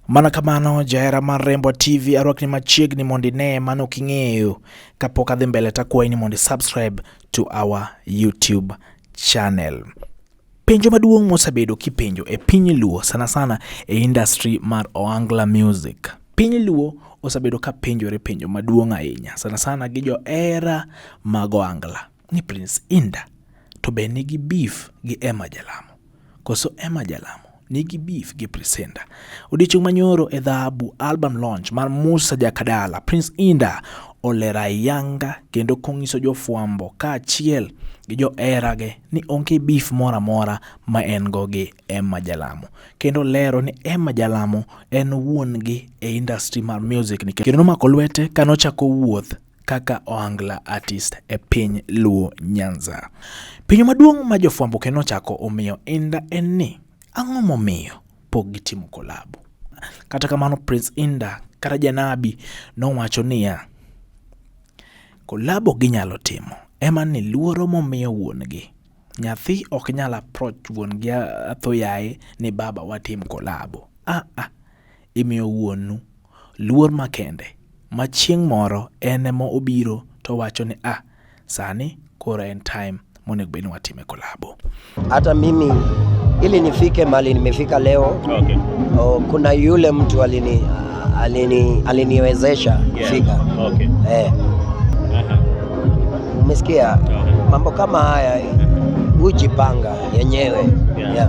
Mana kamano jahera mar Rembo TV arwakni machiegni mondo ine mano king'eyo. Kapok adhi mbele takwayi ni mondo subscribe to our YouTube channel. Penjo maduong' mosabedo kipenjo e piny Luo sana sana e industry mar Oangla Music. Piny Luo osabedo ka penjore penjo maduong' ahinya sana sana gi johera mag Oangla. ni Prince Inda to be nigi beef gi Emma Jalamo. Koso Emma Jalamo nigi beef gi Prince Inda. Odiochieng' manyoro e dhahabu album launch mar Musa Jakadala, Prince Inda olera yanga kendo konyiso jofwambo kaachiel gi joherage ni onge beef moro amora ma en go gi Emma Jalamo. Kendo lero ni Emma Jalamo en wuon gi e industry mar music ni kendo nomako lwete kanochako wuoth kaka Ohangla Artist e piny Luo Nyanza. Penjo maduong' ma jofwambo kendo ochako omiyo Inda en ni ang'o momiyo pok gitimo kolabo? Kata kamano Prince Inda kata Janabi nowacho niya, kolabo ginyalo timo ema ni luoro momiyo wuon-gi. Nyathi ok nyal approach wuon-gi athoyaye ni baba watim kolabo. Ah ah, Imiyo Wuonu luor makende, ma chieng' moro en ema obiro to owacho ni ah, sani koro en time monego bed ni watime kolabo. Hata mimi ili nifike mali nimefika leo Okay. o, kuna yule mtu alini alini aliniwezesha kufika Okay. eh, Aha. umesikia Aha. mambo kama haya hujipanga yenyewe Yeah. yeah.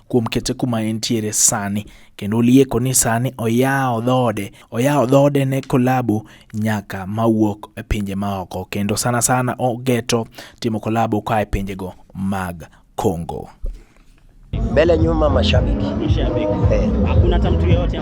kuom kete kuma entiere sani kendo ulieko ni sani oyawo dhoode oyawo dhoode ne kolabo nyaka mawuok e pinje maoko kendo sana sana ogeto timo kolabo ka e pinjego mag Congo. Mbele nyuma mashabiki. Mashabiki. Eh. Hakuna hata mtu yeyote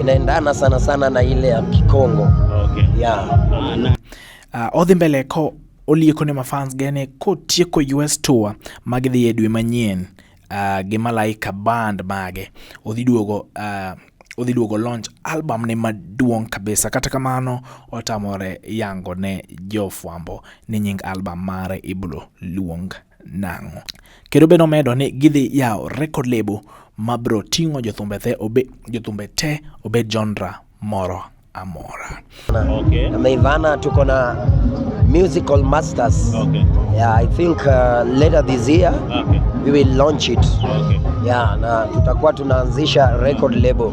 inaendana sana sana na ile ya Kikongo. Okay. Yeah. Ah, na. Uh, odhi mbele ko olieko ne mafans gene kotieko US tour magidhi e dwe manyien uh, gi Malaika band mage odhi duogo uh, odhi duogo launch album ne maduong' kabisa. Kata kamano otamore yango ne jofwambo ni nying album mare ibro luong nang'o. Kendo be nomedo ni gidhi yawo record label ma bro ting'o jothumbe te obe, jothumbe te obed genre moro amora. Okay. Na Meivana tuko na musical masters. Okay. Yeah, I think uh, later this year Okay. we will launch it. Okay. Yeah, na tutakuwa tunaanzisha record label.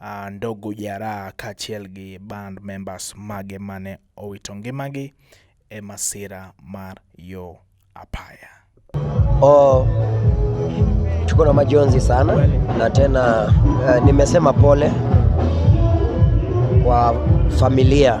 uh, Ndogo Jaraha kaachiel gi band members mage mane owito ngimagi e masira mar yo apaya. Oh, tuko na majonzi sana na tena uh, nimesema pole kwa familia